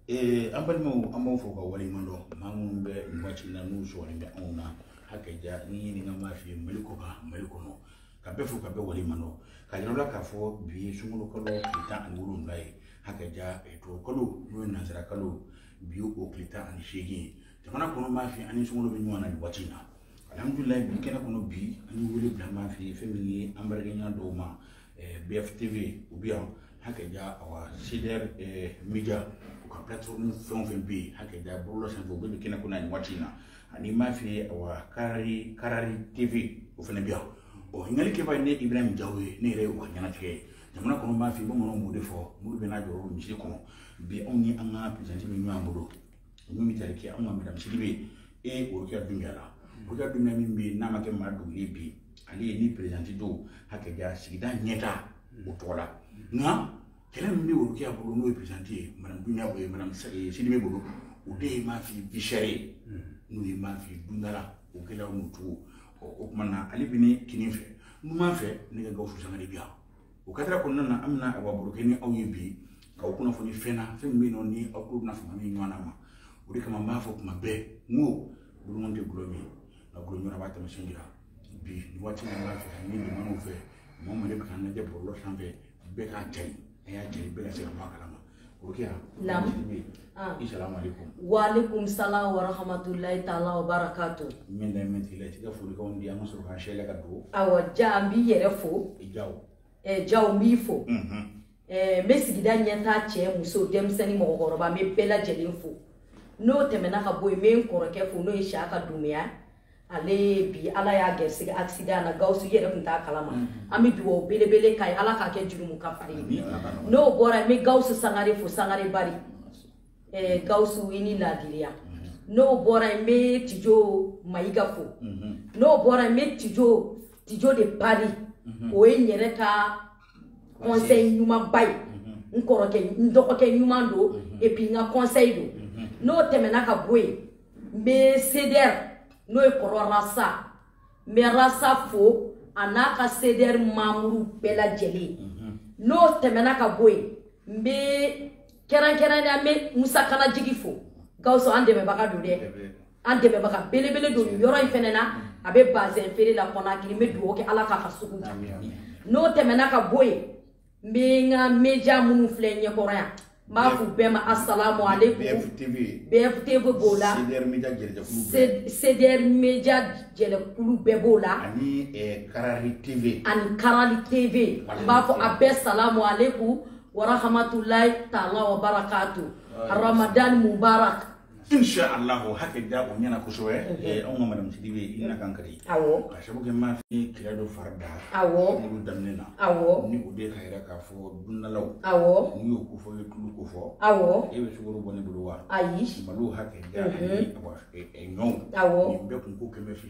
ee an balimaw an b'aw fo k'aw waleɲuman dɔn maa minnu bɛ nin waati na n'u sɔgɔlen bɛ anw na hakɛ ja ni ɲininka m'a f'i ye mali kɔ kan mali kɔnɔ ka bɛɛ fo ka bɛɛ waleɲuman dɔn k'a yira aw la k'a fɔ bi ye sunkalo kalo tile tan ani wolonwula ye hakɛ ja tubabu kalo n'o ye nansara kalo bi o tile tan ani seegin ye jamana kɔnɔ m'a f'i ye ani sunkalo bɛ ɲɔgɔn na nin waati in na alhamdulilayi bi kɛnɛ kɔnɔ bi an ye wele bila m'a f'i ye fɛn min ye an baarakɛɲɔgɔn dɔw ma bf tv u bɛ yan hakɛ ja awa cdr eh, media u ka plateforme fɛn o fɛn bɛ yen hakɛ ja bɔlɔlɔ sanfɛ u bɛɛ bɛ kɛnɛ kɔnɔ nin waati in na ani m'a f'i ye awa karari karari tv o fana bɛ yan ɔ ɲininkali kɛbaa ye ne ibrahim jaw ye ne yɛrɛ ye u ka ɲɛnatigɛ ye jamana kɔnɔ m'a f'i ye bamananw b'o de fɔ mori bɛɛ n'i jɔyɔrɔ misiri kɔnɔ bi anw ni an ka perezanti bɛ ɲɔgɔn bolo min bɛ tali kɛ anw ka madamu sidibe ye n'o ye rokiya dunbiya la rokiya dunbiya min bɛ yen n'a ma kɛ maa dugu ye bi ale ye ni perezanti don hakɛ ja sigida ɲɛta o tɔgɔ la nka kɛlɛ min bɛ o kɛ a bolo n'o ye perezanti ye madamu dunbiya o ye madamu sidibe bolo o de ye m'a f'i ye vie chère ye n'o ye m'a f'i ye dundala o kɛlɛ o n'o cogo ɔ o tuma na ale bɛ ne kinin fɛ numan fɛ ne ka gawusu sangare bɛ yan o kadiri kɔnɔna na an bɛna a baro kɛ ni aw ye bi ka aw kunnafoni fɛn na fɛn min bɛ yen nɔ ni aw tulo bɛna fanga min ɲɔgɔn na ma o de kama n b'a fɔ kuma bɛɛ n ko bolomɔni tɛ gulɔ min ye nka gulɔ ɲɔgɔnna b'a taamasiyɛn jira bi nin waati n b'a fɛ k'a ɲini jama fɛ mɔgɔ o mɔgɔ de bɛ k'a lajɛ bɔlɔlɔ sanfɛ bɛɛ k'a cari a y'a cari bɛɛ ka se ka bɔ a kalama Naam. Ah. Assalamu alaikum. Wa alaikum salam wa rahmatullahi ta'ala wa barakatuh. Min da min tila tika foli kan di an ka sɔrɔ kan shela ka do. Hakɛ ja n b'i yɛrɛ fo. I jaw. Eh jaw n b'i fo. Mhm. Eh n bɛ sigida ɲɛta cɛ muso denmisɛnnin mɔgɔkɔrɔba n bɛ bɛɛ lajɛlen fo. N'o tɛmɛna ka bɔ yen n bɛ n kɔrɔkɛ fo n'o ye Siyaka Dunbiya. ale bi ala y'a garisɛgɛ accident na gawusu i yɛrɛ tun t'a kalama mhm. an bɛ dugawu belebele k'a ye ala k'a kɛ jurumu kafari ye n'o bɔra n bɛ gawusu sangare fo sangare bari eh, gawusu i ni laadiriya mhm. n'o bɔra n bɛ tijo mayiga fo mhm. n'o bɔra n bɛ tijo tijo de pari o ye n yɛrɛ ka conseil ɲumanba ye n kɔrɔkɛ n dɔgɔkɛ ɲuman don et puis n ka conseil don n'o tɛmɛna ka bɔ yen n bɛ cdr n'o ye kɔrɔ rasa n bɛ rasa fo a n'a ka cdr manburu bɛɛ lajɛlen mhm. n'o tɛmɛna ka bɔ yen n bɛ kɛrɛnkɛrɛnnenya la n bɛ musa kanajigi fo gawusu an dɛmɛbaga don dɛ an dɛmɛbaga belebele don nin yɔrɔ in fɛnɛ na a bɛ bazɛn feere la konakiri n bɛ dugawu kɛ ala k'a ka sugu n'o tɛmɛna ka bɔ yen n bɛ n ka media minnu filɛ ɲɛkɔrɔ yan n b'a f'u bɛɛ ma asalamu aleykum bftv b'o la cdr media jɛlɛkulu bɛɛ b'o la ani karali tv ani karali tv n b'a fɔ a bɛɛ salamu aleykum warahamatulayi taala wa barakatu ramadan mubarak insha Allah hakɛ da o ɲɛna kosɛbɛ mhm. eh, anw ka madame sidibe i na kan kari awɔ ka sabu kɛ n b'a f'i kira dɔ fari da awɔ n'olu daminɛ na awɔ ni o de k'a yira k'a fɔ dundalaw awɔ n'i y'o ko fɔ i ye tulu ko fɔ awɔ e bɛ sukaro bɔ ne bolo wa ayi malo hakɛ da ani mhm. eh, eh, ɲɔw awɔ nin bɛɛ kun ko kɛmɛ fila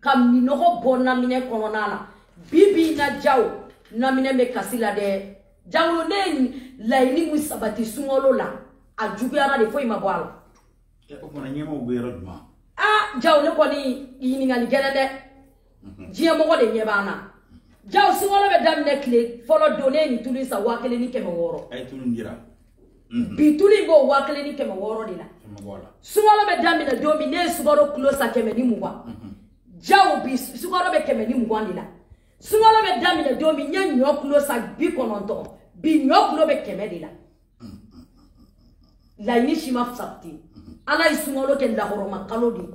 ka minɔgɔ bɔ naminɛn kɔnɔna na bi bi na jaw naminɛn bɛ kasi la dɛ jangolo ne ye laɲini min sabati sunkalo la a juguyara de foyi ma bɔ a la. o tuma na ɲɛmɔgɔw bɛ yɔrɔ jumɛn. aa jaw nin kɔni ɲininkali gɛlɛn dɛ mhm. diɲɛ mɔgɔ de ɲɛ b'an na jaw sunkalo bɛ daminɛ tile fɔlɔ don ne ye nin tulu in san waa kelen ni kɛmɛ wɔɔrɔ. a ye tulu in jira. Mhm. bi tulu in bɛ waa kelen ni kɛmɛ wɔɔrɔ de la sunkalo bɛ daminɛ don min ne ye sukaro kilo san kɛmɛ ni mugan mhm. jaw bi sukaro bɛ kɛmɛ ni mugan de la sunkalo bɛ daminɛ don min n ye ɲɔ kilo san bi kɔnɔntɔn bi ɲɔ kilo bɛ kɛmɛ de la mhm. laɲini si ma sabati ala ye sunkalo kɛ lahɔrɔma kalo de ye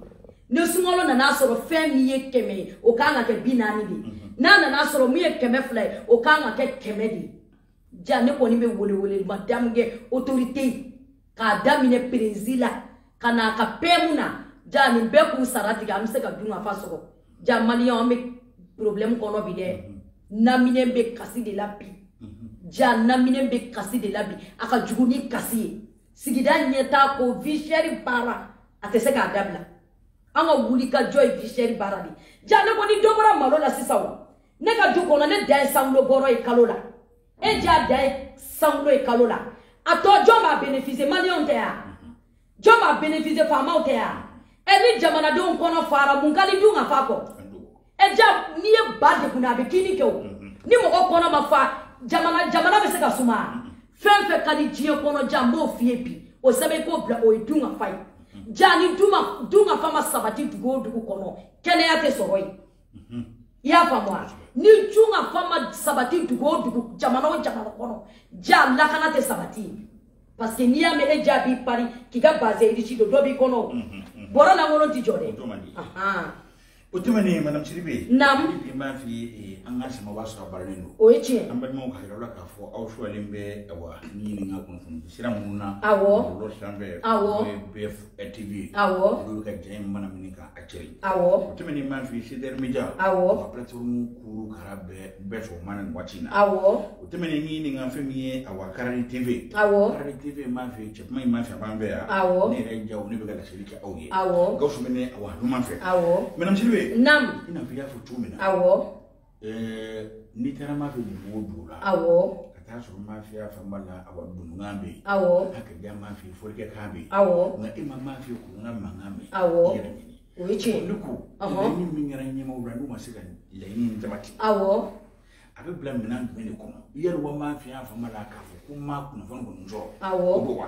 ni sunkalo nana sɔrɔ fɛn min ye kɛmɛ ye o kan ka kɛ bi naani de ye n'a nana sɔrɔ min ye kɛmɛ fila ye o kan ka kɛ kɛmɛ de ye ja ne kɔni bɛ welewelema damu kɛ otorite k'a daminɛ perezi la ka na a ka peyɛmu na ja nin bɛɛ k'u sara tigɛ an bɛ se ka dun ka fa sɔrɔ ja maliyɛn an bɛ porobilɛmu kɔnɔ bi dɛ naminɛn bɛ kasi de la bi ja naminɛn bɛ kasi de la bi a ka jugu ni kasi ye sigida ɲɛtaa ko vie chère baara a tɛ se k'a dabila an ka wuli ka jɔ ye vie chère baara de ja ne ko ni dɔ bɔra malo la sisan o ne ka du kɔnɔ ne dan ye cent kilos bɔrɔ ye kalo la e ja dan ye cent kilos ye kalo la a tɔ jɔn b'a bénéficier maliyɛnw tɛ ya jɔn b'a bénéficier faamaw tɛ ya ɛ ni jamanadenw kɔnɔ fara mun ka di dun ka fa kɔ ɛ ja n'i ye ba degun a bɛ kinni kɛ o ni mɔgɔ kɔnɔ ma fa jamana jamana bɛ se ka suma fɛn fɛn ka di diɲɛ kɔnɔ ja n b'o f'i ye bi o sɛbɛn k'o bila o ye dun ka fa ye ja ni dun ka fa ma sabati dugu o dugu kɔnɔ kɛnɛya tɛ sɔrɔ yen i y'a faamu wa ni dun ka fa ma sabati dugu o dugu jamana o jamana kɔnɔ ja lakana tɛ sabati parce que n'i y'a mɛn e ja b'i pari k'i ka bazin riche don dɔ b'i kɔnɔ o bɔrɔ lankolon tɛ jɔ dɛ o tɛmɛnen madame sidibe naamu n b'a f'i ye an ka sɛmɛ b'a sɔrɔ baaralen don o ye tiɲɛ an balimaw ka yɔrɔ la k'a fɔ aw sɔrɔlen bɛ awa ni ɲininka kunnafoni sira minnu na awɔ bɔlɔlɔ sira fɛ awɔ bɛɛ TV awɔ olu bɛ ka jɛn in mana minɛ ka a cɛ ye awɔ o tɛmɛnen mafɛn CDR Media awɔ ka plateforme kuru kara bɛɛ bɛɛ fɔ mana nin waati in na awɔ o tɛmɛnen ni nin ka fɛn min ye awa Karani TV awɔ Karani TV mafɛn cɛ kuma in mafɛn a b'an fɛ yan awɔ ne yɛrɛ Jaw ne bɛ ka laseli kɛ aw ye awɔ Gawusu bɛ ne awa numan fɛ awɔ madame Sidibe naam i n'a fɔ i y'a fɔ cogo min na awɔ n'i taara mafɛn dugu o dugu la awɔ ka taa sɔrɔ mafiya fanba la awɔ dunugan bɛ yen awɔ a ka ca mafɛn forikɛ kan bɛ yen awɔ nka e ma mafɛn kuran mankan bɛ yen awɔ i yɛrɛ ɲini o ye tiɲɛ ne ko laɲini min kɛra ɲɛmɔgɔw la n'u ma se ka laɲini in sabati awɔ a bɛ bila minɛn jumɛn de kɔnɔ yɛrɛ wa mafiya fanba la k'a fɔ ko n ma kunnafoni kɔni sɔrɔ awɔ o b'o wa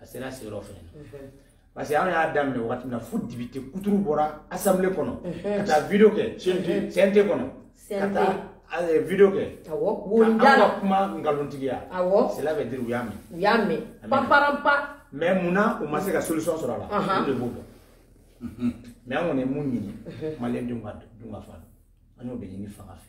a sera se yɔrɔ fɛnɛ na parce que an y'a daminɛ wagati min na fo député kuturu bɔra assemblée kɔnɔ ka taa video kɛ cnt kɔnɔ ka taa video kɛ an ka kuma nkalontigiya cela veut dire u y'a mɛn u y'a mɛn paparanpa mais mun na u ma se ka solution sɔrɔ a la olu de b'o dɔn mais an kɔni ye mun ɲini maliyɛn denw ka dun ka fa an y'o de ɲini fanga fɛ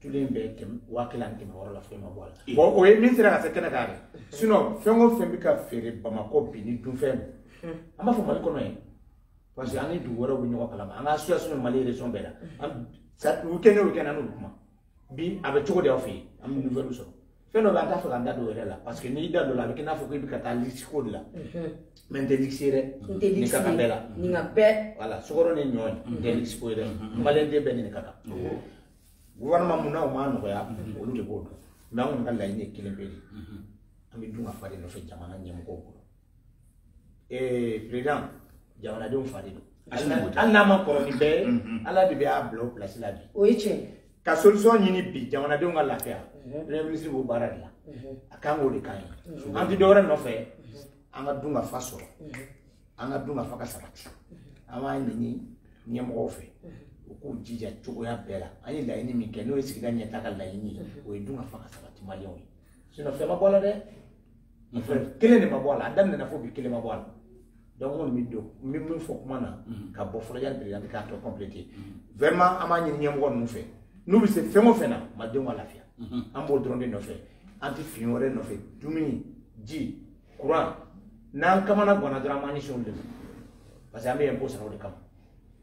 tulu in bɛ waa kelen ani kɛmɛ wɔɔrɔ la foyi ma bɔ a la bɔn o ye min sera ka se kɛnɛ kan dɛ sinɔn fɛn o fɛn bɛ ka feere bamakɔ bi ni dunfɛn an b'a fɔ mali kɔnɔ yen parce que an ni dugu wɛrɛw bɛ ɲɔgɔn kalama an ka association mali région bɛɛ la an weekend o weekend an n'olu kuma bi a bɛ cogo di aw fɛ yen an bɛ nouvelle sɔrɔ fɛn dɔ bɛ an t'a fɛ k'an da don o yɛrɛ la parce que n'i da don a la a bɛ kɛ i n'a fɔ k'i bɛ ka taa luxe ko de la mɛ n tɛ luxe dɛ n tɛ luxe ka kan bɛɛ la nin ka bɛɛ wala sukaro ni ɲɔ nin tɛ luxe ko ye dɛ maliyɛn den bɛɛ nin ka kan gouvernement mun na o m'a nɔgɔya olu de b'o dɔn mɛ an kɔni ka laɲini ye kelen pe de an bɛ dun ka fa de nɔfɛ jamana ɲɛmɔgɔw bolo ee president jamanadenw fa de don hali n'a man kɔrɔ ni bɛɛ ye mhm. ala de bɛ a bila o pilasi la bi o ye tiɲɛ ka solution ɲini bi jamanadenw ka lafiya mhm. premier ministre b'o baara de la mhm. a kan k'o de kan ye an tɛ dɔwɛrɛ nɔfɛ an ka dun ka fa sɔrɔ an ka dun ka fa ka sabati an b'a ɲini ɲɛmɔgɔw fɛ u k'u jija cogoya bɛɛ la an ye laɲini min kɛ n'o ye sigida ɲɛtaa ka laɲini ye o ye dun ka fa ka sabati maliyɛnw ye sinɔn fɛn ma bɔ a la dɛ kelen de ma bɔ a la a daminɛna fo bi kelen ma bɔ a la donc n kɔni bɛ don n bɛ min fɔ kuma na ka bɔ fɔlɔ yanni perezidan k'a tɔ kɔnpilete vraiment an b'a ɲini ɲɛmɔgɔ ninnu fɛ n'u bɛ se fɛn o fɛn na malidenw ka lafiya an b'o dɔrɔn de nɔfɛ an tɛ fɛn wɛrɛ nɔfɛ dumuni ji kuran n'an kamana ganna dɔrɔn an b'an ɲɛsin olu de ma parce que an bɛ lɛnpo sara o de kama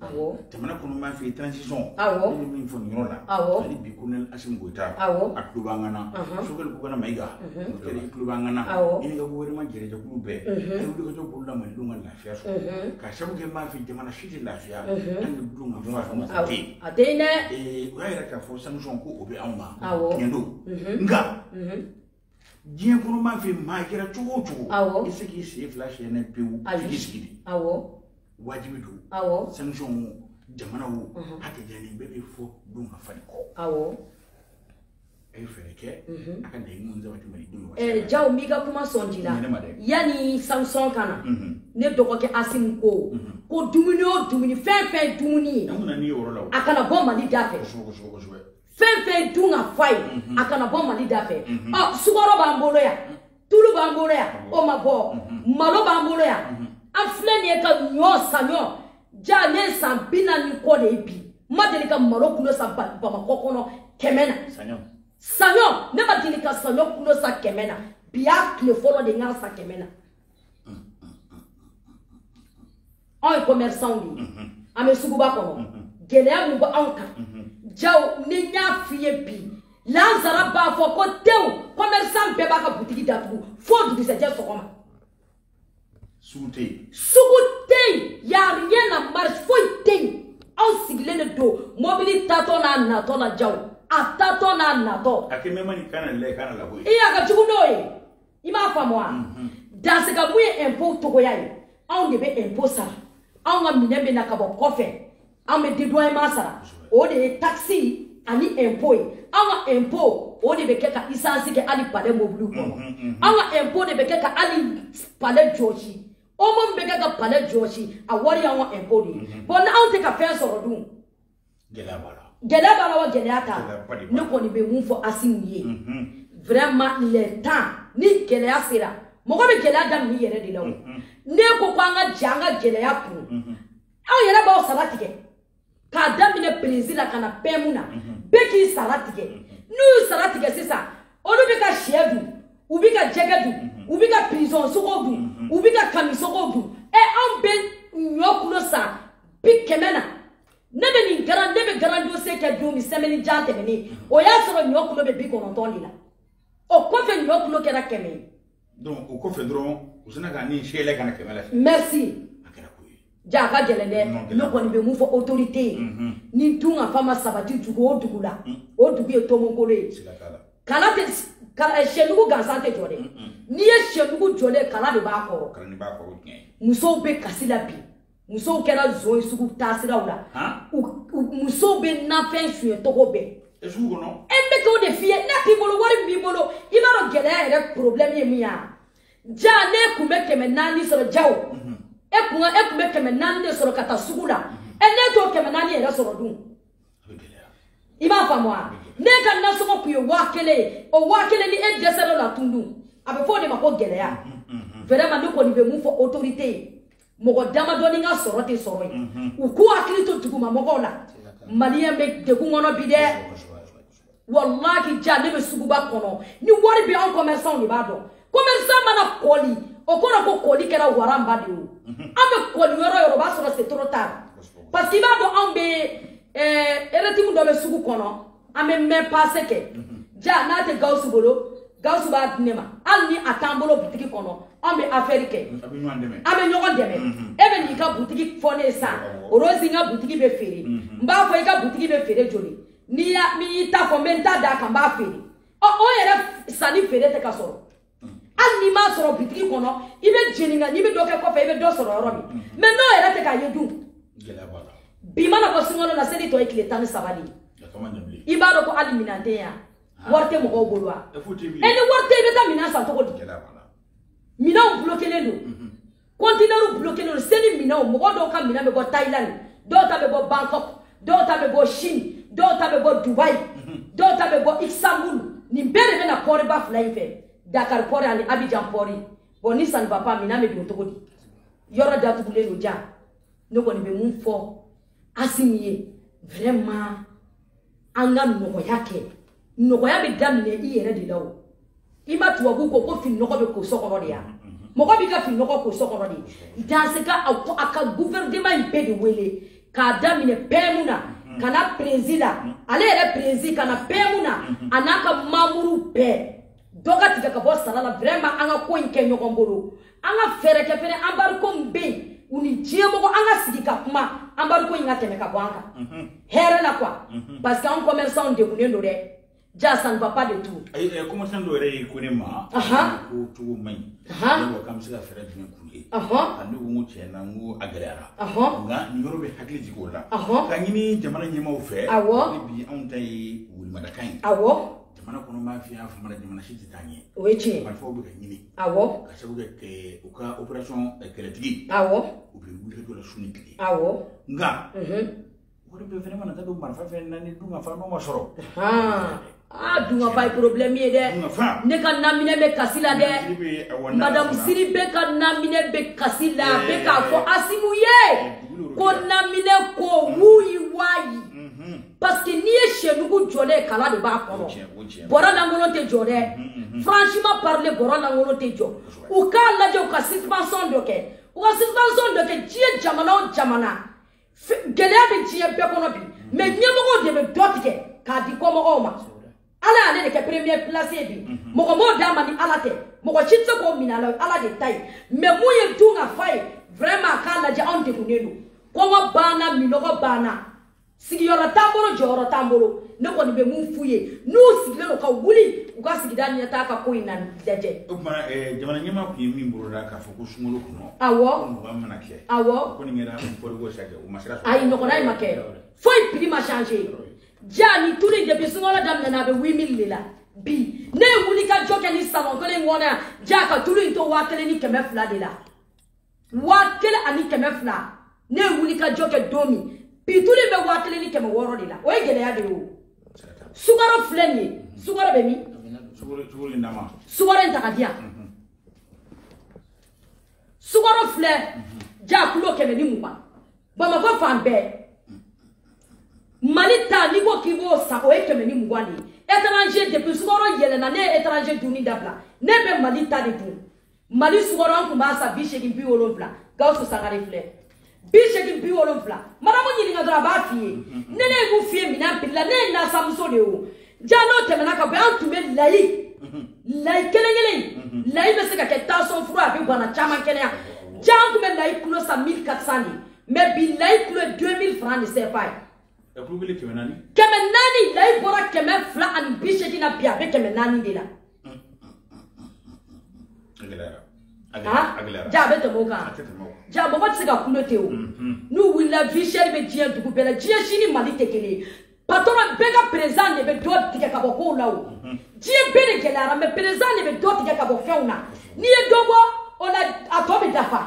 awɔ jamana kɔnɔ mafɛn transition awɔ ne bɛ min fɔ nin yɔrɔ la awɔ hali bi colonel Assimi Goïta awɔ a tulo b'an kan na Sogɛli Kokala Mayiga Murutari i tulo b'an kan na i n'i ka gouvernement yɛrɛ jɛkulu bɛɛ a ye wulikajɔ boloda malidenw ka lafiya sɔrɔ k'a sabu kɛ mafɛn jamana si tɛ lafiya an de b'o dɔn k'a fɔ a fanga tɛ yen a tɛ yen dɛ o y'a yira k'a fɔ sanction ko o bɛ anw ma tiɲɛ don nka diɲɛ kɔnɔ m'a fɛ maa kɛra cogo o cogo awɔ i se k'i sen fila siyɛn n'a ye pewu f'i k'i sigi de awɔ wajibi don awɔ sanction wo jamana wo mhm. a tɛ diya ni bɛɛ bɛ fɔ dun ka fa de kɔ awɔ a ye fɛɛrɛ kɛ mhm. a ka laɲini minnu sabati mali denw ka eh, jaw n b'i ka kuma sɔn ji la yanni sanction ka na mhm. ne dɔgɔkɛ asimi ko ko dumuni o dumuni fɛn fɛn dumuni ye a kana bɔ mali da fɛ fɛn fɛn dun ka fa ye mhm. a kana bɔ mali da fɛ mhm. ɔ sukɔrɔ b'an bolo yan mhm. tulu b'an bolo yan o ma bɔ malo b'an bolo yan an filɛ nin ye ka ɲɔ saɲɔ jaw ne ye san bi naani kɔ de ye bi n ma deli ka malo kulo san bamakɔ kɔnɔ kɛmɛ na saɲɔ ne ma deli ka saɲɔ kulo san kɛmɛ na bi y'a tile fɔlɔ de n y'a san kɛmɛ na anw ye commerçant de ye mhm. an bɛ suguba kɔnɔ mhm. gɛlɛya min bɛ anw kan mhm. jaw ni n y'a f'i ye bi lansara b'a fɔ ko tew commerçant bɛɛ b'a ka butigi datugu fo dugusɛjɛ sɔgɔma sugu tɛ yen sugu tɛ yen y'a rien na marché foyi tɛ yen anw sigilen de don mɔbili taatɔ n'a natɔ la jaw a taatɔ n'a natɔ a kɛ mɛma ni kana lɛ kana labɔ yen i y'a ka jugu n'o ye i m'a faamu wa mhm. dansigabu ye impôt dɔgɔya ye anw de bɛ impôt sara anw ka minɛn bɛ na ka bɔ kɔfɛ anw bɛ dédouanement sara o de ye taxe ani impôt ye anw ka impôt o de bɛ kɛ ka esansi kɛ hali palais mobiliw kɔnɔ mhm, mhm, anw ka impôt de bɛ kɛ ka hali palais jɔsi omo min bɛ kɛ ka palais jɔsi a wari y'anw ka impôt de ye bon n'anw tɛ ka fɛn sɔrɔ dun gɛlɛya b'a la gɛlɛya b'a la wa gɛlɛya t'a la ne kɔni bɛ mun fɔ asimi ye vraiment le temps ni gɛlɛya sera mɔgɔ bɛ gɛlɛya daminɛ i yɛrɛ de la o ne ko ko an ka jɛ an ka gɛlɛya kun aw yɛrɛ b'aw sara tigɛ k'a daminɛ perezi la ka na pɛmu na bɛɛ k'i sara tigɛ n'u y'u sara tigɛ sisan olu bɛ ka sɛ dun u bɛ ka jɛgɛ dun u bɛ ka pigeon sogow dun u bɛ ka kamisogow dun ɛ anw bɛ ɲɔ kulo san bi kɛmɛ na ne bɛ nin grand ne bɛ grand dossier kɛ don min semaine jan tɛmɛnen o y'a sɔrɔ ɲɔ kulo bɛ bi kɔnɔntɔn de la o kɔfɛ ɲɔ kulo kɛra kɛmɛ ye. donc o kɔfɛ dɔrɔn u sinna ka ni seelɛ ka na kɛmɛ la. merci. a kɛra ko ye. jaw a ka gɛlɛn dɛ ne kɔni bɛ mun fɔ autorité ye mhm. ni dun ka fa ma sabati dugu o dugu la mm. o dugu ye tomokolon ye kala tɛ eh, sɛnugu gansan tɛ jɔ dɛ n'i ye sɛnugu jɔlen kala de b'a kɔrɔ musow bɛ kasi la bi. musow kɛra zon ye sugu taasiraw la musow bɛ nafɛn suɲɛ tɔgɔ bɛɛ e sugu kɔnɔ e bɛ k'o de f'i ye n'a t'i bolo wari min b'i bolo i b'a dɔn gɛlɛya yɛrɛ problème ye min ye ja ne kun bɛ kɛmɛ naani sɔrɔ ja e kun e kun bɛ kɛmɛ naani de sɔrɔ ka taa sugu la e ne t'o kɛmɛ naani yɛrɛ sɔrɔ dun i b'a faamu wa ne ka nasɔngɔ kun ye waa kelen ye o waa kelen ni e dɛsɛra o la tun dun a bɛ fɔ o de ma ko gɛlɛya vraiment ne kɔni bɛ mun fɔ autorité ye mɔgɔ damadɔni ka sɔrɔ tɛ sɔrɔ ye mhm. u k'u hakili to duguma mɔgɔw la maliyɛn bɛ degun kɔnɔ bi dɛ walahi ja ne bɛ suguba kɔnɔ ni wari bɛ anw kɔmɛrisanw de b'a dɔn kɔmɛrisan mana kɔli o kɔrɔ ko kɔli kɛra waranba de ye o mhm. an bɛ kɔli yɔrɔ yɔrɔ o b'a sɔrɔ c'est trop tard parce que i b'a dɔn anw bɛ ɛɛ eh, eretimu dɔ bɛ sugu kɔnɔ an bɛ mɛn pase kɛ ja n'a tɛ gawusu bolo gawusu b'a di ne ma hali ni a t'an bolo butigi kɔnɔ an bɛ afɛri kɛ an bɛ ɲɔgɔn dɛmɛ e bɛ n'i ka butigi fɔ ne ye sisan orozi n ka butigi bɛ feere n b'a fɔ i ka butigi bɛ feere joli n'i y'i ta fɔ n bɛ n ta d'a kan n b'a feere ɔ o yɛrɛ sanni feere tɛ ka sɔrɔ hali n'i m'a sɔrɔ bitigi kɔnɔ i bɛ jeni nka n'i bɛ dɔ kɛ kɔfɛ i bɛ dɔ sɔrɔ yɔrɔ min mm-hmm. mɛ n'o yɛrɛ tɛ k'a ye dun bi mana bɔ sunkalo la seli tɔ ye tile tan ni saba de ye i b'a dɔn ko hali minɛn tɛ yan ah. wari tɛ mɔgɔw bolo wa ɛ ni wari tɛ i bɛ taa minɛn san cogo di minɛnw bulokelen don mm-hmm. kɔntinɛriw bulokelen don seli minɛnw mɔgɔ dɔw ka minɛn bɛ bɔ thailand dɔw ta bɛ bɔ bangkok dɔw ta bɛ bɔ chine dɔw ta bɛ bɔ dubai mhm. dɔw ta bɛ bɔ istanbul nin bɛɛ de bɛ na pɔriba fila in fɛ dakar pɔri ani abijan pɔri bon ni ça ne va pas minɛn bɛ don cogo di yɔrɔ datugulen don ja ne kɔni bɛ mun fɔ asimi ye vraiment an ka nɔgɔya kɛ nɔgɔya bɛ daminɛ i yɛrɛ de la o i ma tubabu ko ko fininɔgɔ bɛ ko so kɔnɔ de ya mɔgɔ b'i ka fininɔgɔ ko so kɔnɔ de asimi ka a ka gouvernement in bɛɛ de wele k'a daminɛ pɛmu na ka na perezi la ale yɛrɛ perezi ka na pɛmu na a n'a ka mamuru bɛɛ dɔ ka tigɛ ka bɔ sara la vraiment an ka ko in kɛ ɲɔgɔn bolo an ka fɛɛrɛ kɛ fɛnɛ anbariko min bɛ yen u ni diɲɛmɔgɔ an ka sigi ka kuma anbariko in ka tɛmɛ ka bɔ an kan mhm. hɛrɛ la quoi mhm. parce que an commerçant degunnen don dɛ ja ça ne va pas du tout eh, eh, commerçant dɔ yɛrɛ y'i ko ne ma ko cogo man ɲi ne ko k'an bɛ se ka fɛɛrɛ jumɛn k'u ye a ne ko n ko tiɲɛ na n ko a gɛlɛyara nka nin yɔrɔ bɛ hakili jigin o la ka ɲini jamana ɲɛmaaw fɛ awɔ bi anw ta ye welemadaka ye awɔ jamana kɔnɔ b'a fi y'a fama jamana si tɛ taa ɲɛ o ye tiɲɛ marifaw bɛ ka ɲini awɔ ka sabu kɛ u ka operation kɛlɛtigi awɔ u bɛ wuli dɔ la su ni tile awɔ nka wari bɛɛ fɛnɛ mana taa don marifa fɛn na ni dunkafa n'o ma sɔrɔ aa dunkafa ye problème ye dɛ ne ka naminɛ bɛ kasi la dɛ madamu sidibe ka naminɛ bɛ kasi la a bɛ k'a fɔ asimi ye ko naminɛ ko wuyi wayi parce que n'i ye sɛdugu jɔ dɛ kala de b'a kɔnɔ bɔrɔ lankolon tɛ jɔ dɛ franchement parlé bɔrɔ lankolon tɛ jɔ u k'a lajɛ u ka subvention dɔ kɛ u ka subvention dɔ kɛ diɲɛ jamana o jamana gɛlɛya bɛ diɲɛ bɛɛ kɔnɔ bi mais ɲɛmɔgɔw de bɛ dɔ tigɛ k'a di kɔmɔgɔw ma ala y'ale de kɛ premier place ye bi mɔgɔ m'o d'a ma ni ala tɛ mɔgɔ si tɛ se k'o minɛ a la ala de ta ye mais mun ye dunkafa ye vraiment k'a lajɛ anw degunnen don kɔngɔ b'an na minɔgɔ b'an na sigiyɔrɔ t'an bolo jɔyɔrɔ t'an bolo ne kɔni bɛ mun f'u ye n'u sigilen don ka wuli u ka sigida ɲɛtaa ka ko in na lajɛ. o tuma eh, jamana ɲɛmaa tun ye min boloda k'a fɔ ko sunkalo kɔnɔ. awɔ ko mugan mana kɛ. awɔ o kɔni kɛra kɔriko sakɛ o ma se ka sɔrɔ. ayi nɔgɔya in ma kɛ foyi piri ma change ja ni tulu in depuis sunkalo daminɛna a bɛ huit mille de la bi ne ye wulikajɔ kɛ nin salon kelen in kɔnɔ yan ja ka tulu in to waa kelen ni kɛmɛ fila de la. waa kelen ani kɛmɛ fila ne ye wulikajɔ kɛ don min bi tulu bɛ waa kelen ni kɛmɛ wɔɔrɔ de la o ye gɛlɛya de ye o sukaro filɛ nin ye sukaro bɛ min sukaro in ta ka di yan mhm. sukaro filɛ mhm. ja kulo kɛmɛ ni mugan bamakɔ fan bɛɛ mhm. mali ta n'i ko k'i b'o san o ye kɛmɛ ni mugan de ye étranger depuis sukaro yɛlɛna ne ye étranger dunni dabila ne bɛ mali ta de dun mali sukaro an tun b'a san bi seegin bi wolonfila gawusu sangare filɛ bi seegin bi wolonfila madamu ɲininka dɔrɔn a b'a f'i ye ne ne b'u f'i ye minɛn piri la ne ye nasanmuso de ye o ja n'o tɛmɛna ka bɔ an tun bɛ layi layi kelen kelen layi bɛ se ka kɛ tansɔn fura a bɛ bana caman kɛnɛya ja an tun bɛ layi kulo san mille quatre cent de mais bi layi kulo ye deux mille franc de cfa ye kɛmɛ naani layi bɔra kɛmɛ fila ani bi seegin na bi a bɛ kɛmɛ naani de la ja a bɛ tɛmɛ o kan ja mɔgɔ tɛ se ka kulo ten o n'u wulila vie chère bɛ diɲɛ dugu bɛɛ la diɲɛ si ni mali tɛ kelen ye patɔrɔn bɛɛ ka président de bɛ dɔ tigɛ ka bɔ kow la o diɲɛ bɛɛ de gɛlɛyara mais président de bɛ dɔ tigɛ ka bɔ fɛnw na n'i ye dɔ bɔ o la a tɔ bɛ dafa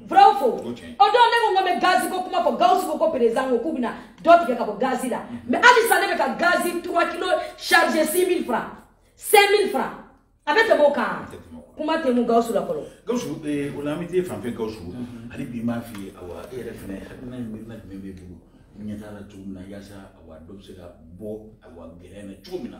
vrai ou faux o dɔw ne ko n ko bɛ gazi ko kuma fɔ gawusu ko ko président ko k'u bɛna dɔ tigɛ ka bɔ gazi la mais halisa ne bɛ ka gazi trois kilo chargé six mille francs cinq mille francs a bɛ tɛmɛ o kan kuma tɛ mun gawusu la fɔlɔ gawusu o la an bɛ t'e fan fɛ gawusu hali bi n b'a f'i ye awa e yɛrɛ fɛnɛ hakilina ye miirina jumɛn b'e bolo ɲɛtaa la cogo min na yaasa awa dɔ bɛ se ka bɔ awa gɛlɛya na cogo min na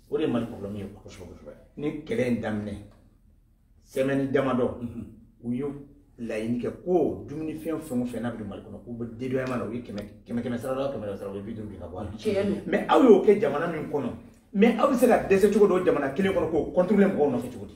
o de ye mali problème ye kosɛbɛ kosɛbɛ nin kɛlɛ in daminɛ semaine damadɔ mhm. u ye laɲini kɛ ko dumunifɛn fɛn o fɛn n'a bɛ don mali kɔnɔ k'u bɛ dédouanement na u ye kɛmɛ kɛmɛ kɛmɛ sara la kɛmɛ sara u ye bi duuru de ka bɔ a la mais aw y'o kɛ jamana min kɔnɔ mais aw bɛ se ka dɛsɛ cogo di o jamana kelen kɔnɔ k'o contrôler mɔgɔw nɔfɛ cogo di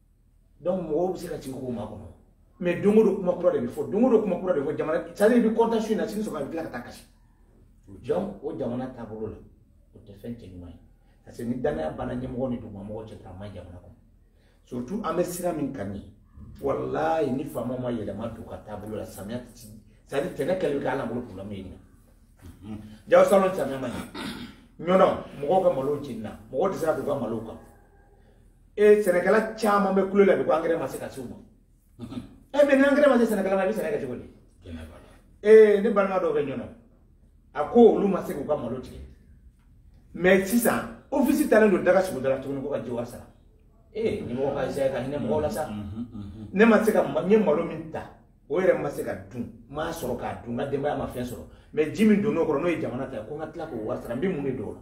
donc mɔgɔw bɛ se ka sigi k'o makɔnɔ mais don o don kuma kura de bɛ fɔ don o don kuma kura de bɛ fɔ jamana c'est à dire i bɛ kɔntan su in na sini sɔgɔma i bɛ tila ka taa kasi jɔn o jamana taabolo la o tɛ fɛn cɛ ɲuman ye parce que ni dannaya banna ɲɛmɔgɔ ni dugumamɔgɔ cɛ dɔrɔn a man jamana kɔnɔ surtout an bɛ sira min kan nin walayi ni faama ma yɛlɛma don a ka taabolo la samiya ti c'est à dire tɛnɛ kɛlen bɛ kɛ ala bolo problème ye nin na jaw salon samiya man ɲi ɲɔnɔ mɔgɔw ka malo jenina mɔgɔw tɛ se ka don u ka malo kan e sɛnɛkɛla caman bɛ kulo la bi ko angɛrɛ ma se ka s'u ma e mais ni angɛrɛ ma se sɛnɛkɛla ma i bɛ sɛnɛ kɛ cogo di ee ne balima dɔw bɛ ɲɔnɔ a ko olu ma se k'u ka malo tigɛ mais sisan ofisi talen don daga sugu dala tuguni k'u ka jiwari sara ee ɲɛmɔgɔ ka zɛɛ ka hinɛ mɔgɔw la sa ne ma se ka n ye malo min ta o yɛrɛ ma se ka dun n m'a sɔrɔ k'a dun n ka denbaya ma fɛn sɔrɔ mais ji min donn'o kɔrɔ n'o ye jamana ta ye ko n ka tila k'o wari sara n bɛ mun de don o la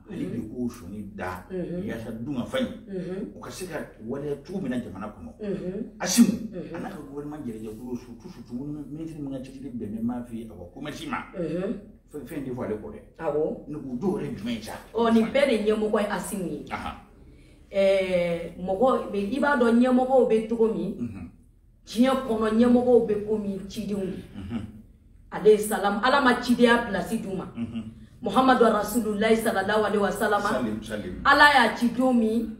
ale de k'o sɔnni da yasa dunkafa in o ka se ka waleya cogo min na jamana kɔnɔ asimu a n'a ka gouvernement yɛrɛ jɛkulu surtout surtout ministre min ka cɛsiri bɛnnen b'a fɛ a ka commerce ma fɛn fɛn tɛ fɔ ale kɔ dɛ awɔ ne k'u dɔw yɛrɛ jumɛn ye sa ɔ nin bɛɛ de ɲɛmɔgɔ ye asimu ye mɔgɔ i b'a dɔn ɲɛmɔgɔw bɛ cogo min diɲɛ kɔnɔ ɲɛmɔgɔw bɛ komi cidenw de mhm. alayhi salam ala ma cidenya pilasi d'u ma mhm. muhamadu rasululayi salalaw alayhi wa salama ala y'a ci don min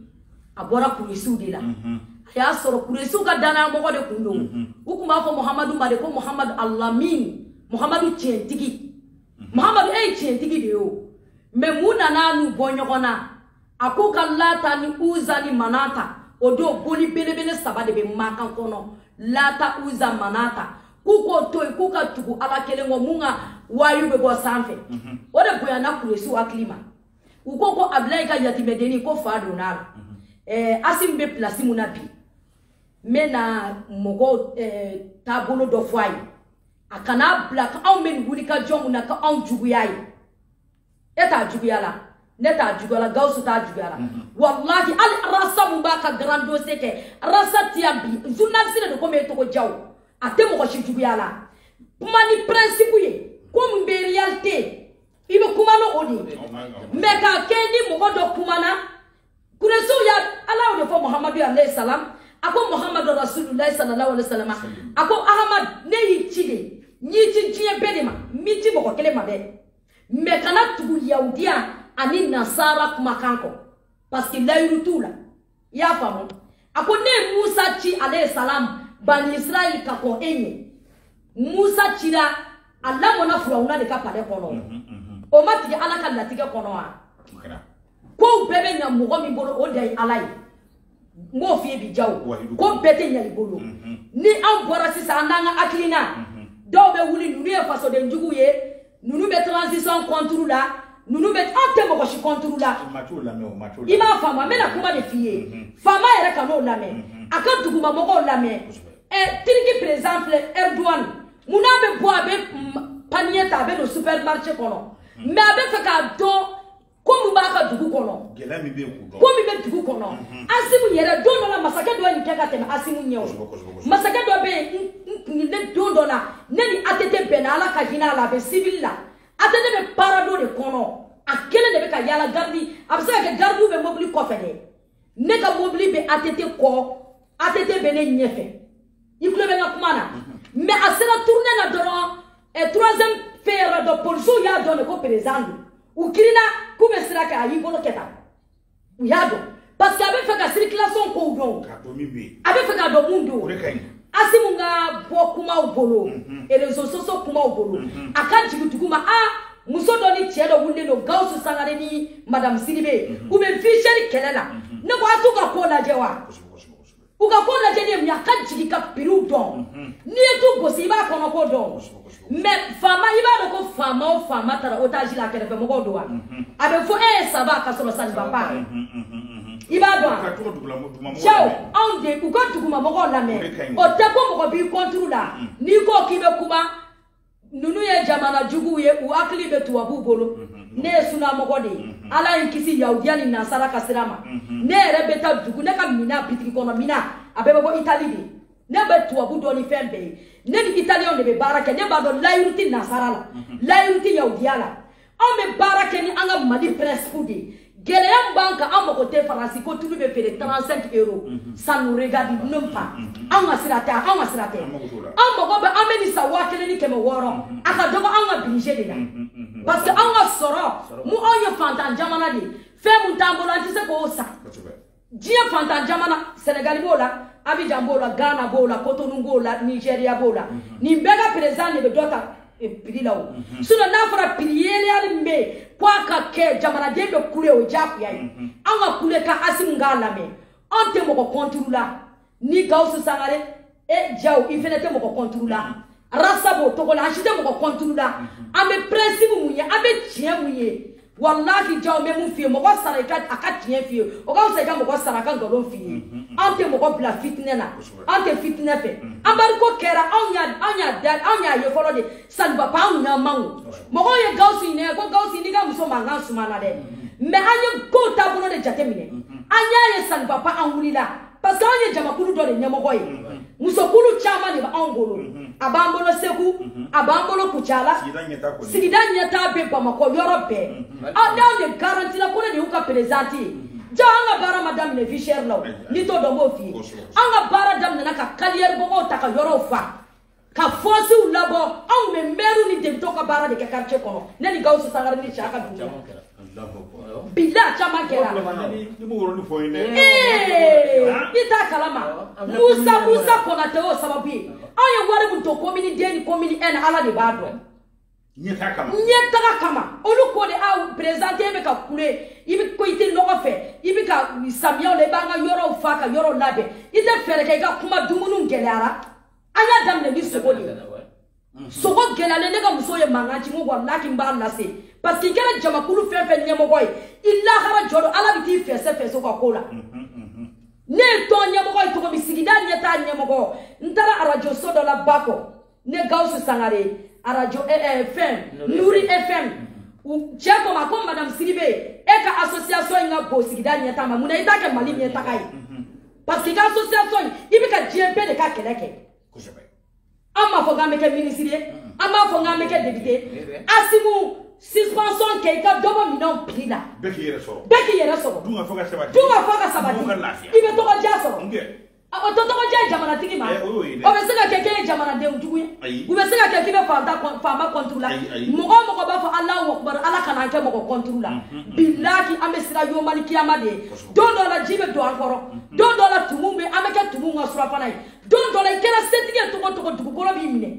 a bɔra kuresiw de la mhm. a y'a sɔrɔ kuresiw ka dannayamɔgɔ de kun don u tun b'a fɔ muhamadu ma de ko muhamadu alamin muhamadu tiɲɛtigi muhamadu e ye tiɲɛtigi de ye o mais mun nana n'u bɔ ɲɔgɔn na a k'u ka lata ni uza ni manata o don boli belebele saba de bɛ makan kɔnɔ lata uza manata k'u k'o to yen k'u ka tugu ala kelen kɔ min ka wayu bɛ bɔ sanfɛ mhm. o de bonyana kuresiw hakili ma u ko ko abilayi ka yatimɛdennin ko fa donna a la mhm. eh, asim bɛ pilasi min na bi n bɛ na mɔgɔw eh, taabolo dɔ fɔ a ye a kana bila k'anw bɛ nin wulikajɔ min na k'a juguya ye e t'a juguya la ne t'a juguya la gawusu t'a juguya la walahi hali arasa min b'a ka grand dossier kɛ arasa tiya bi journaliste de don komi e tɔgɔ jaw a tɛ mɔgɔ si juguya la kuma nin principe ye ko min bɛ réalité i bɛ kuma n'o de ye mais k'a kɛ ni mɔgɔ dɔ kumana kuresiw y'a ala y'o de fɔ muhamadu alayhi salam a ko muhamadu rasulilayi sallallahu alayhi salam a ko ahamadu ne y'i ci de n y'i ci diɲɛ bɛɛ de ma n m'i ci mɔgɔ kelen ma dɛ mɛ kana tugu yahudiya ani nasara kumakan kɔ paske layiru t'u la i y'a faamu a ko ne ye musa ci alayi salamu bani israɛl ka kɔn e ɲɛ musa cira a lamɔna firawuna de ka palɛ kɔnɔ o ma tigɛ ala ka latigɛ kɔnɔ wa kow bɛɛ bɛ ɲa mɔgɔ min bolo o de ye ala ye n b'o f'i ye bi jaw ko bɛɛ tɛ ɲa i bolo mhm. ni anw bɔra sisan an n'an ka hakilina mhm. dɔw bɛ wuli ninnu ye fasoden juguw ye ninnu bɛ transition contre la ninnu bɛ an tɛ mɔgɔ si contre la i m'a faamu an bɛna kuma de f'i ye mhm. faama yɛrɛ k'anw lamɛn a ka duguma mɔgɔw lamɛn ɛ tiriki perezan filɛ ɛriduwani mun n'a bɛ bɔ a bɛ paniye ta a bɛ don supermarché kɔnɔ mɛ a bɛ fɛ k'a dɔn ko min b'a ka dugu kɔnɔ gɛlɛya min bɛ yen k'o dɔn ko min bɛ dugu kɔnɔ asimu yɛrɛ don dɔ la masakɛ dɔ ye nin kɛ ka tɛmɛ asimu ɲɛ o masakɛ dɔ bɛ yen ne don dɔ la ne ni atete bɛnna ala ka hinɛ a la a bɛ sibili la atete bɛ parado de kɔnɔ a kelen de bɛ ka yaala garidi a bɛ se ka kɛ garidiw bɛ mobili kɔfɛ dɛ ne ka mobili bɛ ATT kɔ ATT bɛ ne ɲɛfɛ i tulo bɛ n ka kuma na mɛ a sera tourne na dɔrɔn ɛ troisième fɛn yɔrɔ dɔ polisiw y'a dɔn de ko perezan don u girinna k'u bɛ sira kɛ a y'i bolo kɛ tan u y'a dɔn parce que a bɛ fɛ ka circulation kow dɔn a bɛ fɛ k'a dɔn mun don asimu ka bɔ kumaw bolo mhm. réseaux sociaux kumaw bolo mhm. a ka jigin dugu ma a muso dɔ ni cɛ dɔ wulilen don gawusu sangare ni madamu sidibe mhm. u bɛ vie chère kɛlɛ la ne ko a t'u ka ko lajɛ wa u ka ko lajɛ ye mun ye a ka jigin ka piriw dɔn n'i ye tu gosi i b'a kɔnɔko dɔn mɛ faama i b'a dɔn ko faama o faama taara otaji la a kɛrɛfɛ mɔgɔw don wa mhm. a bɛ fɔ e ye ça va ka sɔrɔ ça ne va pas mhm, mhm, i b'a dɔn wa cɛw anw de u ka duguma mɔgɔw lamɛn o tɛ ko mɔgɔ b'i kɔnturu la n'i ko k'i bɛ kuma ninnu ye jamana juguw ye u hakili bɛ tubabuw bolo ne ye sunamɔgɔ de ye ala ye n kisi yahudiya ni nasara ka sira ma ne yɛrɛ bɛ taa dugu ne ka mina bitigi kɔnɔ mina a bɛɛ bɛ bɔ itali de ne bɛ tubabu dɔn ni fɛn bɛɛ ye ne ni italiyɛnw de bɛ baara kɛ ne b'a dɔn layiru tɛ nasara la mhm. layiru tɛ yahudiya la anw bɛ baara kɛ ni an ka mali principe de ye gɛlɛya min b'an kan an mago tɛ faransi ko tulu bɛ feere 35 euro mhm. ça nous regarde même pas mhm. anw ka sira tɛ anw ka sira tɛ an mago bɛ an bɛ nin san waa kelen ni kɛmɛ wɔɔrɔ a ka dɔgɔ anw ka budget de la parce que anw ka sɔrɔ mu anw ye fantan jamana de ye fɛn min t'an bolo an tɛ se k'o san diɲɛ fantan jamana sɛnɛgali b'o la abijan b'o la ghana b'o la kotonu b'o la nigeriya b'o la mhm. nin bɛɛ ka perezan de bɛ dɔ ta e, piri la o mhm. sinɔn n'a fɔra piri yɛlɛyali min bɛ yen ko a ka kɛ jamanaden bɛ kule o diyagoya ye mhm. an ka kule ka asimu k'an lamɛn an tɛ mɔgɔ kɔnturu la ni gawusu sangare e jaw i fɛnɛ tɛ mɔgɔ kɔnturu la rasa b'o togo la a si tɛ mɔgɔ kɔnturu la an bɛ prinsipu mun ye an bɛ tiɲɛ mun ye walahi jaw bɛ mun f'i ye mɔgɔ sara i ka a ka tiɲɛ f'i ye o ka fisa i ka mɔgɔ sara a ka nkalon f'i ye an tɛ mɔgɔ bila fitinɛ la an tɛ fitinɛ fɛ an bariko kɛra anw y'a anw y'a da anw y'a ye fɔlɔ de salibaba anw y'a man o mɔgɔw ye gawusu ɲinɛ ko gawusu n'i ka muso mankan sumana dɛ mɛ an ye kow taabolo de jateminɛ an y'a ye salibaba an wulila parce que anw ye jamakulu dɔ de ɲɛmɔgɔ ye musokulu caman de bɛ anw bolo a b'an bolo segu a b'an bolo kucala sigida ɲɛtaa bɛ bamakɔ yɔrɔ bɛɛ aw n'aw de garanti la ko ne de y'u ka perezidanti ye ja an ka baara ma daminɛ vie chère la o n'i t'o dɔn n b'o f'i ye an ka baara daminɛna ka kariyɛri bɔgɔw ta ka yɔrɔw fa ka fɔsiw labɔ anw bɛ mɛriw ni depitew ka baara de kɛ quartier kɔnɔ ne ni gawusu sangare ni cɛ a ka dugu la bila caman kɛra i t'a kalama musa musa kɔnate y'o sababu ye anw ye wari min to komini deux ni komini un ala de b'a dɔn ɲɛtaga kama ɲɛtaga kama olu ko de aw perezidanti i bɛ ka kule i bɛ ko i tɛ nɔgɔ fɛ i bɛ ka samiyaw la i b'an ka yɔrɔw fa ka yɔrɔw labɛn i tɛ fɛɛrɛ kɛ i ka kuma dumuniw gɛlɛyara an y'a daminɛ ni sogo de ye sogo gɛlɛyalen ne ka musow ye mankan ci n ko walaki n b'a lase parce que i kɛra jamakulu fɛn fɛn ɲɛmɔgɔ ye i lahara jɔdon ala bɛ t'i fɛsɛfɛsɛ u ka ko la ne ye tɔn ɲɛmɔgɔ ye cogo min sigida ɲɛtaa ɲɛmɔgɔ n taara arajoso dɔ la ba kɔ ne gawusu sangare arajo eh, eh, fɛn nuri fm cɛ ko n ma ko madame sidibe e ka association in ka bon sigida ɲɛtaa ma mun na i t'a kɛ mali ɲɛtaga ye parce que i ka association in i bɛ ka diɲɛ bɛɛ de ka kɛlɛ kɛ an b'a fɔ k'an bɛ kɛ minisiri ye an b'a fɔ k'an bɛ kɛ depite asimu suspension kɛ i ka dɔ bɔ minɛnw piri la bɛɛ k'i yɛrɛ sɔrɔ bɛɛ k'i yɛrɛ sɔrɔ dun ka fa ka sabati i bɛ tɔgɔdiya sɔrɔ a ko tɔtɔgɔ jɛ jamanatigi ma Eh, o y'o ye dɛ. o bɛ se ka kɛ k'e ye jamanadenw jugu ye Ayi. u bɛ se ka kɛ k'i bɛ faanta kɔn- faama kɔnturu la Ayi, ayi. mɔgɔ o mɔgɔ b'a fɔ alahu akubar ala kana an kɛ mɔgɔ kɔnturu la bilaki an bɛ siran yomali kiyama de ɲɛ Kosɛbɛ. don dɔ la ji bɛ don an kɔrɔ don dɔ la tumu bɛ an bɛ kɛ tumu ka surafana ye don dɔ la i kɛra setigi ye cogo o cogo dugukolo b'i minɛ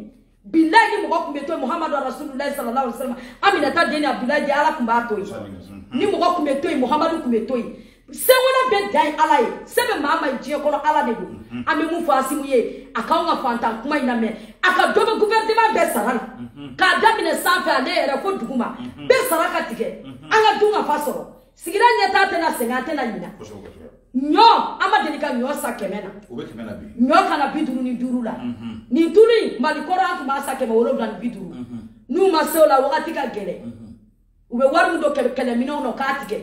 bilayi ni mɔgɔ tun bɛ to yen muhamadu rasululayi sallallahu alaihi wa sallam aminata den ni abudulayi den ala tun b'a to yen ni mɔgɔ tun bɛ to yen muhamadu tun bɛ to yen sebaaya bɛɛ dan ye ala ye se bɛ maa min ye diɲɛ kɔnɔ ala de don mhm. an bɛ mun fɔ asimu ye a k'anw ka fantan kuma in lamɛn a ka dɔ bɔ gouvernement bɛɛ sara la mhm. k'a daminɛ sanfɛ ale yɛrɛ fo duguma mhm. bɛɛ sara ka tigɛ an ka dun ka fa sɔrɔ sigida ɲɛtaa tɛna sɛgɛn an tɛna ɲina ɲɔ an ma deli ka ɲɔ san kɛmɛ na ɲɔ ka na bi duuru ni duuru la mhm. nin tulu in mali kɔrɔ an tun b'a san kɛmɛ wolonwula ni bi duuru mhm. n'u ma se o la wagati ka gɛlɛn mhm. u bɛ wari min don kɛlɛminɛw na k'a tigɛ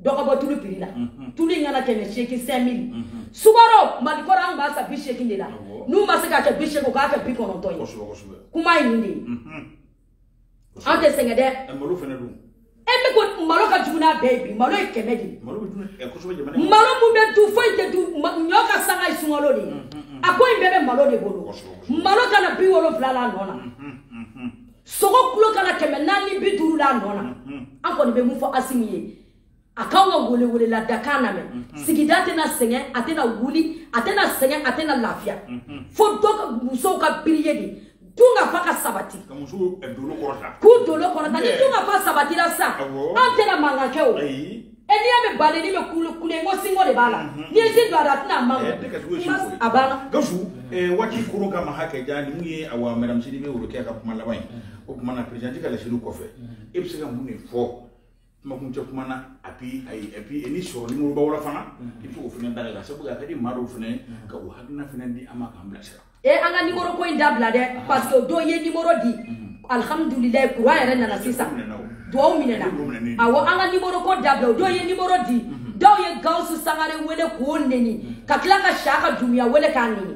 dɔ ka bɔ tulu piri la tulu in ka na kɛmɛ seegin cinq mille sukaro mali kɔrɔ an tun b'a san bi seegin de la n'u ma se ka kɛ bi seegin u k'a kɛ bi kɔnɔntɔn ye kuma ye nin de ye an tɛ sɛgɛn dɛ malo fana dun e bɛ ko malo ka jugu n'a bɛɛ ye bi malo ye kɛmɛ de ye malo bɛ dun ɛ kosɛbɛ jamana in malo mun bɛ dun foyi tɛ dun ɲɔ ka sanga ye sunkalo de ye mm, mm, mm. a ko in bɛɛ bɛ malo de bolo malo ka na bi wolonwula la a nɔ na sogo kilo ka na kɛmɛ naani bi duuru la a nɔ na an kɔni bɛ mun fɔ asimi ye a k'anw ka welewelela dakan lamɛn mhm. sigida tɛna sɛgɛn a tɛna wuli a tɛna sɛgɛn a tɛna lafiya mhm. fo dɔ ka musow ka biriye de dunkafa ka sabati k'u eh, bolo kɔrɔta ni dunkafa sabatira sisan an tɛna mankan kɛ o n'i y'a mɛn badennin bɛ kule kule n ko sinko de b'a la mhm. n'i ye sin don a da a tɛna man eh, a banna. gawusu eh, waati koro ka maha kɛ ja ninnu ye awa madamu sidibe worokiya ka kuma laban ye o tuma na perezidanti ka laseliw kɔfɛ e bɛ se ka mun de fɔ. kumakuncɛ kuma na a bi ayi et puis ni sɔrɔ nimoroba wɛrɛ fana i bɛ se k'o fana da la sabu a ka di maa dɔw fana ye k'u hakilina fana di an ma k'an bilasira e an ka nimoro ko in dabila dɛ parce que dɔ ye nimoro di alihamudulilayi kuran yɛrɛ nana sisan duwawu minɛna awɔ an ka nimoro ko dabila o dɔ ye nimoro di dɔw ye gawusu sangare wele k'o neni ka tila ka shaka dumuya wele k'a neni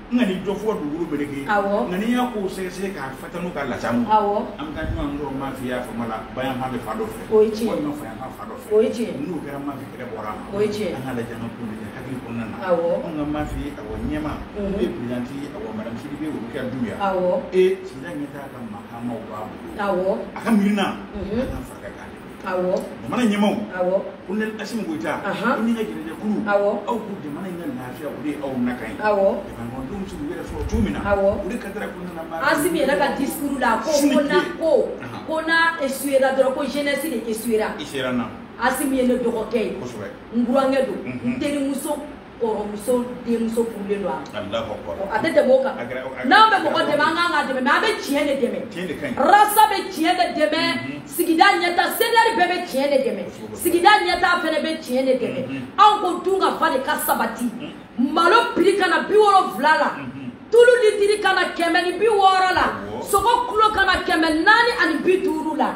nka ni dɔ fɔ dugukolo beleke nka n'i y'a ko sɛgɛsɛgɛ k'a fata n'u ka lasamu an ka ɲɔgɔn dɔrɔn ma fi y'a fama la ba yanfan bɛ fa dɔ fɛ walima fa yanfan fa dɔ fɛ n'u kɛra ma fi kɛlɛ bɔra ma an ka lajɛ an ka ko lajɛ hakili kɔnɔna na an ka ma fi awɔ ɲɛmaa perezidanti awɔ madame sidibe worokiyatu ya e sigida ɲɛtaa ka maakaamaw b'a bolo a ka miirina an ka fara a kan awɔ jamana ɲɛmaaw awɔ kolonɛli asimi goyita i n'i ka jɛnɛjɛ kulu awɔ aw ko jamana in ka lafiya o de ye aw nakan ye awɔ jamanadenw bɛ se k'u yɛrɛ sɔrɔ cogo min na awɔ o de ka dara ko nana baara asimi yɛrɛ ka discours la ko ko na ko ko n'a esuwera dɔrɔn ko jeunesse de esuwera esuwera na asimi ye ne dɔgɔkɛ ye kosɛbɛ n burankɛ don n terimuso kɔrɔmuso denmuso furulen don a ma a tɛ tɛmɛ o kan n'an bɛ mɔgɔ dɛmɛ an kan ka dɛmɛ mɛ an bɛ tiɲɛ de dɛmɛ rasi bɛ tiɲɛ de dɛmɛ sigida ɲɛtaa CDR bɛɛ bɛ tiɲɛ de dɛmɛ sigida ɲɛtaa fɛnɛ bɛ tiɲɛ de dɛmɛ anw ko dunkafa de ka sabati malo piri ka na bi wolonwula la tulu litiri ka na kɛmɛ ni bi wɔɔrɔ la sogo kilo ka na kɛmɛ naani ani bi duuru la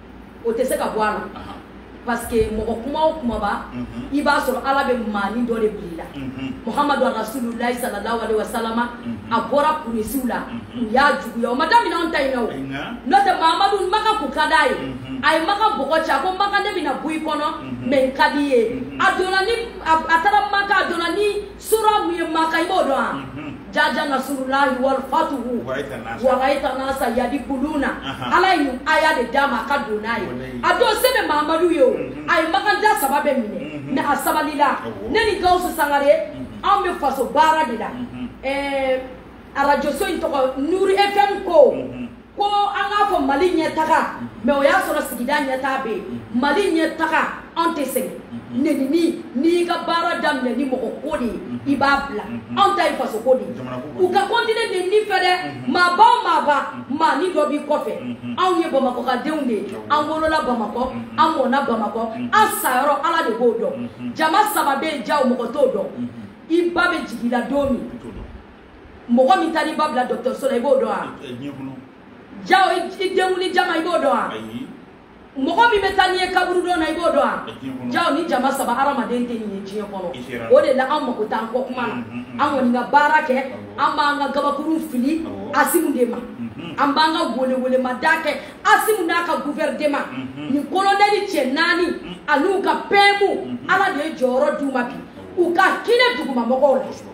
o tɛ se ka bɔ a la parce que mɔgɔ kuma o kumaba i b'a sɔrɔ ala bɛ maani dɔ de bil'i la muhamadu rasululayi sallallahu alaihi wa salama a bɔra kurayisiw la u y'a juguya o ma daminɛ anw ta in na o n'o tɛ mahamadu maka kun ka d'a ye a ye maka bɔgɔ cɛ a ko maka ne bɛna bɔ i kɔnɔ mɛ i ka di n ye a donna ni a taara maka a donna ni sura mun ye maka i b'o dɔn wa jaja nasurulahi walfatuhu waraita nasa yadikuluna ala ye nin aya de d'a ma a ka don n'a ye a don se bɛ mahamadu ye o a ye makanja saba bɛɛ minɛ mɛ a sabalila ne ni gawusu sangare anw bɛ faso baara de la arajoso in tɔgɔ nuri fm ko ko an k'a fɔ mali ɲɛtaga mɛ o y'a sɔrɔ sigida ɲɛtaa bɛ yen mali ɲɛtaga anw tɛ sɛgɛn nenini n'i y'i ka baara daminɛ ni mɔgɔ ko de ye i b'a bila anw ta ye faso ko de ye u ka kɔntine nenini fɛ dɛ maaba o maaba maani dɔ b'i kɔfɛ anw ye bamakɔkadenw de ye an wolola bamakɔ an mɔna bamakɔ an sayɔrɔ ala de b'o dɔn jama saba bɛ yen jaw mɔgɔ t'o dɔn i ba bɛ jigin i la don min mɔgɔ min taara i ba bila dɔgɔtɔrɔso la i b'o dɔn wa ja o i denkunli jama i b'o dɔn wa mɔgɔ min bɛ taa n'i ye kaburudon na i b'o dɔn wa ja o nin jama saba hadamaden tɛ nin ye diɲɛ kɔnɔ o de la an mago t'an kɔ kuma na an kɔni ka baara kɛ an b'an ka gabakuru fili asimu de ma an b'an ka welewelemada kɛ asimu n'a ka guvɛridema ni kolonɛli cɛ naani an'u ka pɛmu ala de ye jɔyɔrɔ d'u ma bi u ka hinɛ dugumamɔgɔw la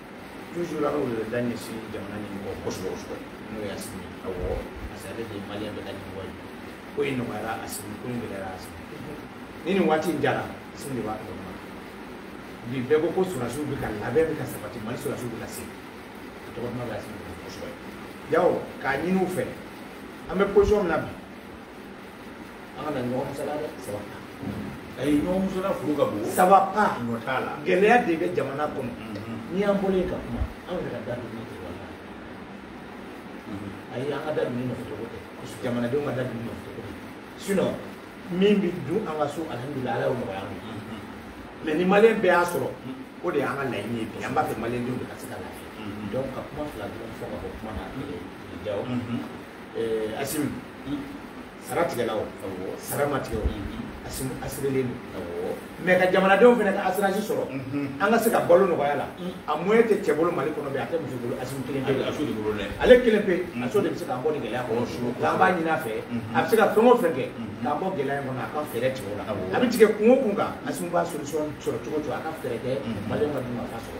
toujours an ka weleweleda ɲɛsin jamana ɲɛmɔgɔ kosɛbɛ kosɛbɛ n'o ye asimi awɔ parce que ale de ye maliyɛn bɛɛ ka ɲɛmɔgɔ ye ko in nɔgɔyara asimi ko in gɛlɛyara asimi ni nin waati in diyara asimi de b'a tɔgɔ duman bi bɛɛ ko ko sɔrɔdasiw bɛ ka labɛn bɛ ka sabati mali sɔrɔdasiw bɛ ka se a tɔgɔ duman bɛ asimi kosɛbɛ jaw o k'a ɲini u fɛ an bɛ position min na bi an kana ɲɔgɔn musala dɛ ça va pas ɲɔgɔn musala furu ka bon ça va pas ɲɔ t'a la gɛlɛya de bɛ jamana kɔnɔ n'i y'an bɔlen ye ka kuma an yɛrɛ ka dadonni tɔgɔ la ayi an ka dadonni nɔfɛ cogo tɛ jamanadenw ka dadonni nɔfɛ cogo tɛ sinon min bɛ dun an ka so alihamudulila ala y'o nɔgɔya an ma mɛ ni maliyɛn bɛɛ y'a sɔrɔ o de y'an ka laɲini ye bi an b'a fɛ maliyɛndenw de ka se ka lafiya donc ka kuma fila dɔrɔn fɔ ka bɔ kuma na jaw asimi sara tigɛla o sara ma tigɛ o asimi asirelen don mɛ ka jamanadenw fana ka asiransi sɔrɔ an ka se ka balo nɔgɔya la a moyen tɛ cɛ bolo mali kɔnɔ bi a tɛ muso bolo asimi kelen pe ale kelen pe asimi de bɛ se k'an bɔ nin gɛlɛya kɔnɔ nka an b'a ɲini a fɛ a bɛ se ka fɛn o fɛn kɛ k'an bɔ gɛlɛya in kɔnɔ a ka fɛɛrɛ tigɛ o la a bɛ tigɛ kun o kun kan asimi b'a solution sɔrɔ cogo o cogo a ka fɛɛrɛ kɛ mali ka dunkafa sɔrɔ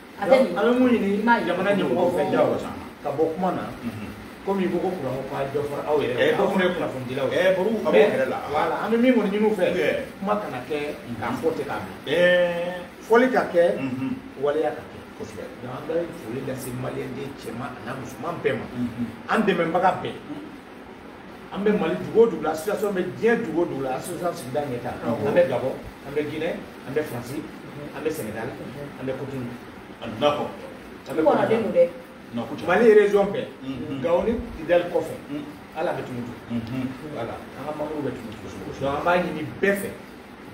a bɛ nin an bɛ min ɲini jamana ɲɛmɔgɔw fɛ jago san ka bɔ kuma na komi ko ko kuran ko k'a dɔ fara aw yɛrɛ ye aw fana ye kunnafonidilaw ye ɛɛ baro a b'o yɛrɛ la wala an bɛ min kɔni ɲini u fɛ kuma kana kɛ k'a fɔ ten k'a bila ɛɛ fɔli ka kɛ waleya ka kɛ kosɛbɛ donc an bɛ foli lase maliyɛnden cɛman an'a musoman bɛɛ ma an dɛmɛbaga bɛɛ an bɛ mali dugu o dugu la association bɛ diɲɛ dugu o dugu la association sigida ɲɛtaa an bɛ gabɔn an bɛ guinɛ an bɛ faransi an bɛ sɛnɛgali an bɛ kotun a donna kɔ an bɛ kɔnɔ den don dɛ mali région bɛɛ gawo ni kidali kɔfɛ ala an bɛ tumutu wala an ka mamburu bɛ tumutu donc an b'a ɲini bɛɛ fɛ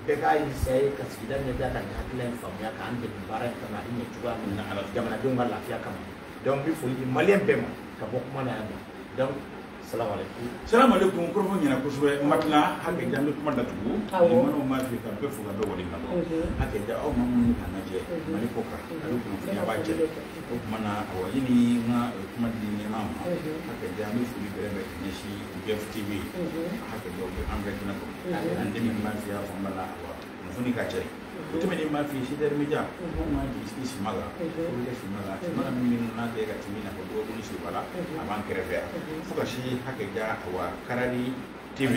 bɛɛ k'a eseye ka sigida ɲɛtaa ka nin hakilila in faamuya k'an dɛmɛ baara in kama a bɛ ɲɛ cogoya min na jamanadenw ka lafiya kama donc n bɛ foli di maliyɛn bɛɛ ma ka bɔ kuma na yan nɔ donc salamu aleykum kɔrɔfɔ ɲɛna kosɛbɛ n ma tila hakɛ ja n bɛ kuma datugu ni manaw ma fɛ ka bɛɛ fo ka bɛɛ waleɲumandɔn hakɛ ja aw ma minnu ka lajɛ mali kɔ kan a bɛ kunnafoniya b'a cɛ o tuma na awa i ni n ka kuma di ɲɛma ma hakɛ ja n bɛ foli bɛrɛ bɛn ka ɲɛsin bɛɛ tv hakɛ ja o bɛ an bɛɛ kɛnɛ kɔnɔ an dɛmɛ n b'a fɛ y'a fɔ n b'a la awa kunnafoni ka cɛ o tɛmɛnen n b'a f'i ye sedɛri media anw k'an jigi sigi sima la olu kɛ sima la sima la min bɛ n'a tɛ ka timi nafa dɔgɔkun seba la a b'an kɛrɛfɛ yan fo ka si hakɛ ja wa karali tv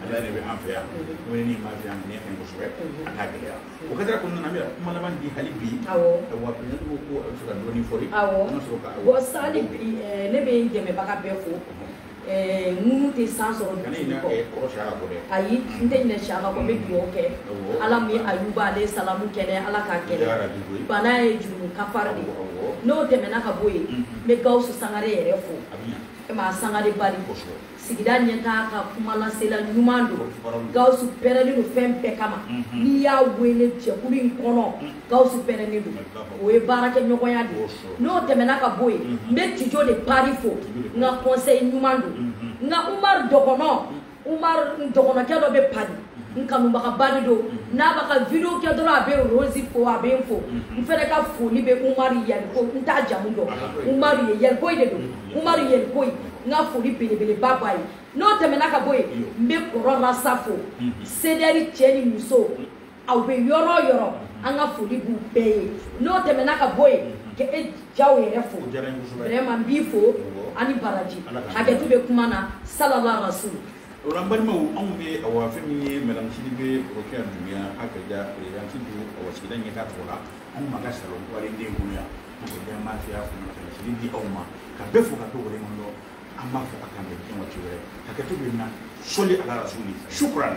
ala de bɛ an fɛ yan o ni maa fɛ yan ni fɛn kosɛbɛ a t'a gɛlɛya o kɛra kɔnɔna na an bɛ kuma laban di hali bi wa president ko ko a b'a fɛ ka dɔɔni fɔ ye an ka sɔrɔ ka bɔ sali bi ne bɛ dɛmɛbaga bɛɛ fo tɛ san sɔrɔ ayi n tɛ ɲinɛ siyaka kɔ n bɛ dugawu kɛ ala min ye ayuba aleyi salamu kɛnɛ ala k'a kɛnɛ bana ye jurumu kafari de n'o tɛmɛna ka bɔ yen n bɛ gawusu sangare yɛrɛ fo maa sangare bari sigida ɲɛtaa ka kumalasela ɲuman don gawusu pɛrɛlen don fɛn bɛɛ kama n'i y'a wele jɛkulu in kɔnɔ gawusu pɛrɛnnen don o ye baarakɛɲɔgɔnya de n'o tɛmɛna ka bɔ yen n bɛ tijo de pari fo n ka kɔnsɛyi ɲuman don n ka umar dɔgɔnɔ umar dɔgɔnɔkɛ dɔ bɛ pari n kanubagaba de don n'a b'a ka video kɛ dɔrɔn a bɛ rosi fo a bɛ n fo n fɛnɛ ka foli bɛ umar ye n t'a jamu dɔn umar ye yalikoyi de don umar yalikoyi n ka foli belebeleba b'a ye n'o tɛmɛna ka bɔ yen n bɛ kɔrɔ rasta fo sedɛri cɛ ni muso aw bɛ yɔrɔ o yɔrɔ an ka foli b'u bɛɛ ye n'o tɛmɛna ka bɔ yen ka e jaw yɛrɛ fo vraiment n b'i fo a ni baraji hakɛto bɛ kuma na salala rasul o la n balimaw anw bɛ awa fɛn min ye madame sidibe rokia dumbiya akaja présidente du awa sigida ɲɛtaa tɔgɔ la anw ma ka salon kɔlen den kɔnɔ yan mɔgɔ ɲɛ ma fiya fana ka sigi di aw ma ka bɛɛ fo ka to wale kɔnɔ an b'a fɔ ko k'an bɛn diɲɛ waati wɛrɛ hakɛto b'a la sɔli ala rasuli shukran